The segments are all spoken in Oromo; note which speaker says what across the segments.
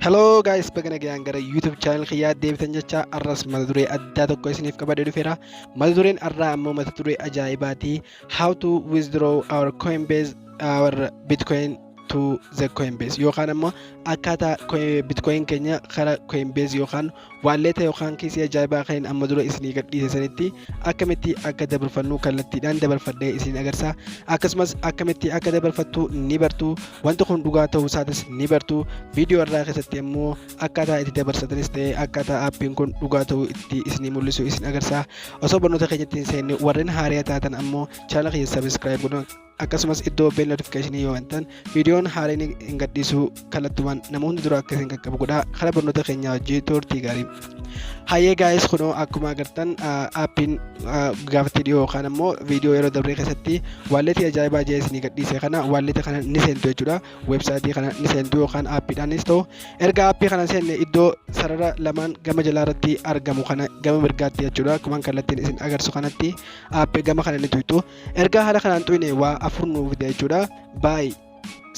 Speaker 1: Hello guys, baga nagaan gara YouTube channel kiyyaa deebitan jecha arras mata duree addaa tokko isiniif qabadee dhufeera. Mata dureen arraa ammoo mata duree ajaa'ibaati. How to withdraw our Coinbase our Bitcoin to the Coinbase yookaan ammoo akkaataa Coin- Bitcoin keenya kara Coinbase yookaan Waalleeta yookaan kiisii ajaa'ibaa kan amma dura isinii gadhiise sanitti akkamitti akka dabarfannu kallattiidhaan dabarfadhee isin agarsiisa. Akkasumas akkamitti akka dabarfattu ni bartu. Wanti kun dhugaa ta'uu isaatis ni bartu. Viidiyoo irraa keessatti immoo akkaataa itti dabarsatanis ta'ee akkaataa aappiin kun dhugaa ta'uu itti isinii mul'isu isin agarsiisa. Osoo barnoota keenyatti hin seenne warreen haaraya taatan ammoo chaanala keenya sabiskiraayib godhaa. akkasumas iddoo bell notification yoo bantan viidiyoon haareen hin gadhiisuu kallattumaan nama hundi dura akka isin qaqqabu godhaa karaa barnoota keenyaa hojii turtii gaarii hayyee gaa'ees kunoo akkuma agartan aappiin gaafatti dhiyoo yookaan ammoo viidiyoo yeroo dabree keessatti waalleetii ajaa'ibaa jee isinii gadhiise kana waalleetii kana ni seentu jechuudha weebsaayitii kana ni seentu yookaan aappiidhaanis ta'u erga aappii kana seenne iddoo sarara lamaan gama jalaa irratti argamu kana gama mirgaatti jechuudha akkuma kallattiin isin agarsu kanatti aappii gama kana ni tuyxu ergaa haala kanaan tuyne waa afur nuu fida jechuudha buy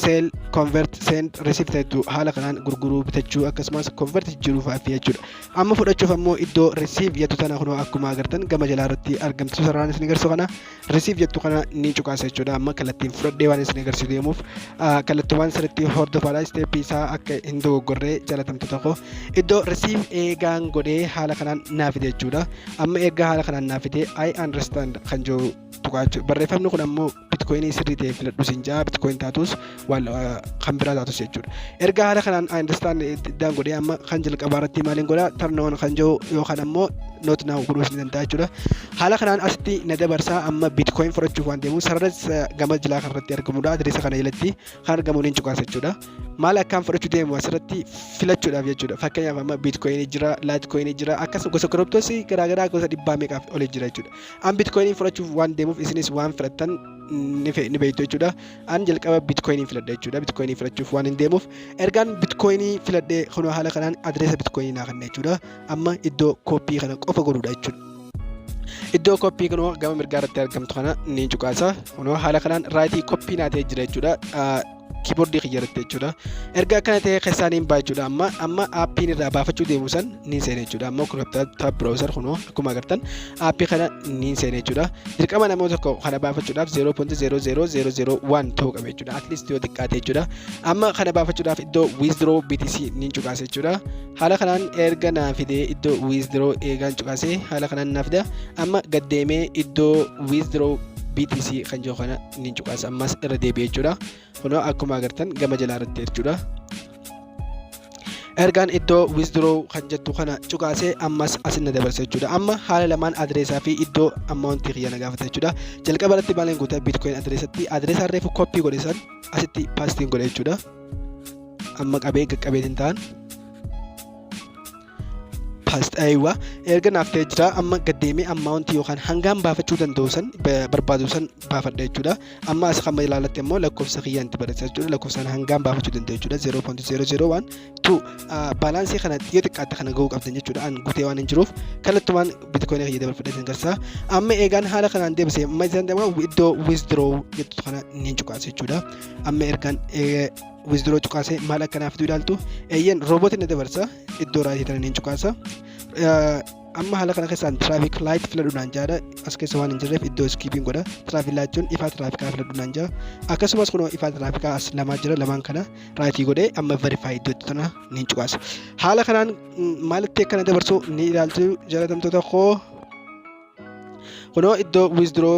Speaker 1: sell convert send receive ta'etu haala kanaan gurguruu bitachuu akkasumas convert jijjiiruu fa'aafi jechuudha amma fudhachuuf ammoo iddoo receive jettu tana kunoo akkuma agartan gama jalaa irratti argamtu sararaan isin agarsiisu kana receive jettu kana ni cuqaasa jechuudha amma kallattiin fudhadhee waan isin agarsiisu deemuuf kallattiiwwan sirriitti hordofaadha isteeppii isaa akka hin dogoggorree jalatamtoota koo iddoo risiif eegaan godhee haala kanaan naa fide jechuudha amma erga haala kanaan naa fide i understand kan jiru tuqaachuu barreeffamni kun ammoo bitcoinii sirrii ta'e filadhu siin ja'a bitcoin taatus waan kan biraa taatus jechuudha erga haala kanaan i understand iddaan godhee amma kan jalqabaa irratti maaliin godha tarnoon kan jiru yookaan ammoo not now godhuus ni danda'a jechuudha Haala kanaan asitti na dabarsaa amma bitcoin fudhachuuf waan deemu sarara gama jilaa kanarratti argamudha. Adireessa kana jalatti kan argamu ni cuqaasa jechuudha. Maal akkaan fudhachuu deemu asirratti filachuudhaaf jechuudha. Fakkeenyaaf amma bitcoin jira, litecoin jira akkasuma gosa kiriptoos garaagaraa gosa dhibbaa meeqaaf olii jira jechuudha. An bitcoin fudhachuuf waan deemuuf isinis waan filattan ni beektu jechuudha. An jalqaba bitcoin filadha jechuudha. Bitcoin filachuuf waan hin deemuuf ergaan bitcoin filadhee kunoo haala kanaan adireessa bitcoin naa kenna jechuudha. Amma iddoo kooppii kana qofa godhuudha jechuudha. iddoo koppii kunoo gama mirgaa irratti argamtu kana ni cuqaasa kunoo haala kanaan raayitii koppii naa ta'e jira jechuudha kiiboordii kiyya irratti jechuudha erga akkana ta'e keessaa niin ba'a jechuudha amma amma aappiin irraa baafachuu deemu san niin seena jechuudha ammoo kun taab browser kunoo akkuma agartan aappii kana niin seena jechuudha dirqama namoota tokko kana baafachuudhaaf 0.00001 ta'uu qaba jechuudha at least yoo xiqqaate jechuudha amma kana baafachuudhaaf iddoo withdraw BTC niin cuqaasa jechuudha haala kanaan erga naa fidee iddoo withdraw eegaan cuqasee haala kanaan naa fida amma gad deemee iddoo withdraw BTC kan jiru kana ni cuqasa ammas irra deebi'ee jechuudha kunoo akkuma agartan gama jalaa irratti jechuudha ergaan iddoo withdraw kan jettu kana cuqaasee ammas asin na dabarsa jechuudha amma haala lamaan adireesaa fi iddoo ammaawuntii kiyya na gaafata jechuudha jalqaba irratti maalan guuta bitcoin adireesatti adireesaa reefu koppii godhe san asitti paastiin godhe jechuudha amma qabee qaqqabeetiin ta'an paastaayiwaa erga naaf ta'ee jira amma gaddeemee ammaawunti yookaan hangaan baafachuu danda'u san barbaadu san baafadha jechuudha amma as kan ilaalatti immoo lakkoofsa kiyyaan itti barreessa jechuudha lakkoofsaan hangaan baafachuu danda'u jechuudha 0.001 tu baalaansii kana yoo xiqqaatte kana ga'uu qabdan jechuudha an gutee waan hin jiruuf kallattumaan bitikoinii kiyya dabarfadhee sin garsaa amma eegaan haala kanaan deebisee amma isaan deemaa iddoo withdraw jettu kana ni cuqaasa jechuudha amma ergaan wizduroo cuqaasee maal akka naaf fiduu ilaaltu eeyyeen roobootiin na dabarsa iddoo raayitii tanan hin cuqaasa amma haala kana keessaan tiraafik laayit filadhuudhaan jaadha as keessa waan hin jirreef iddoo iskiipiin godha tiraafik laayit jechuun ifaa tiraafikaa filadhuudhaan jaa akkasumas kunoo ifaa tiraafikaa as lamaa jira lamaan kana raayitii godhee amma verifaa iddoo itti tana ni cuqaasa haala kanaan maalitti akkana dabarsu ni ilaaltu jalatamtoota koo kunoo iddoo withdraw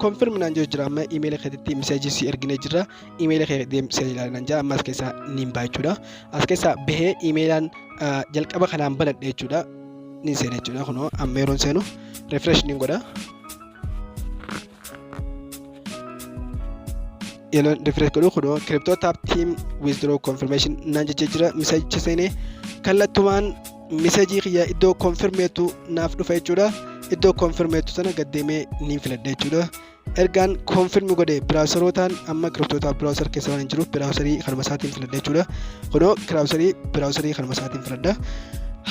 Speaker 1: confirm naan jiru jira amma imeela keetitti miseejii si ergine jira imeela kee deem si ilaalan naan jira amma as keessaa niin ba'a jechuudha as keessaa bahee imeelaan jalqaba kanaan banadhe jechuudha niin seena jechuudha kunoo amma yeroon seenu refresh niin godha yeloon refresh godhu kunoo crypto tap team withdraw confirmation naan jechee jira misajicha seenee kallattumaan misajii kiyya iddoo konfirmeetu naaf dhufa jechuudha iddoo konfirmeetu sana gaddeemee niin filadha jechuudha ergaan konfirmi godhe biraawuserootaan amma crypto tap biraawuser keessa waan hin jiruuf biraawuserii kanuma isaatiin filadha jechuudha kunoo biraawuserii biraawuserii kanuma isaatiin filadha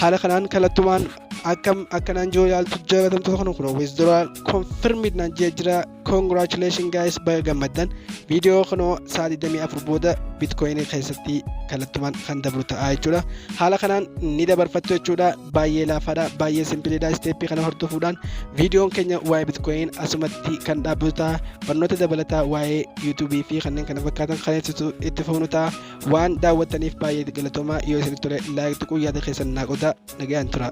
Speaker 1: haala kanaan kallattumaan akkam akka naan jiru yaaltu jaalatamtoota kana kun always dura confirmed naan jee jira congratulation guys baga gammaddan viidiyoo kana sa'a 24 booda bitcoin keessatti kallattumaan kan dabru ta'a jechuudha haala kanaan ni dabarfattu jechuudha baay'ee laafaadha baay'ee simpiliidha isteeppii kana hordofuudhaan viidiyoon keenya waa'ee bitcoin asumatti kan dhaabbatu ta'a barnoota dabalataa waa'ee yuutuubii fi kanneen kana fakkaatan kan ibsitu itti fufnu ta'a Waan daawwattaniif baay'ee galatoomaa yoo isinitti tole like tuquun yaada keessan naa qodaa nagayaan turaa.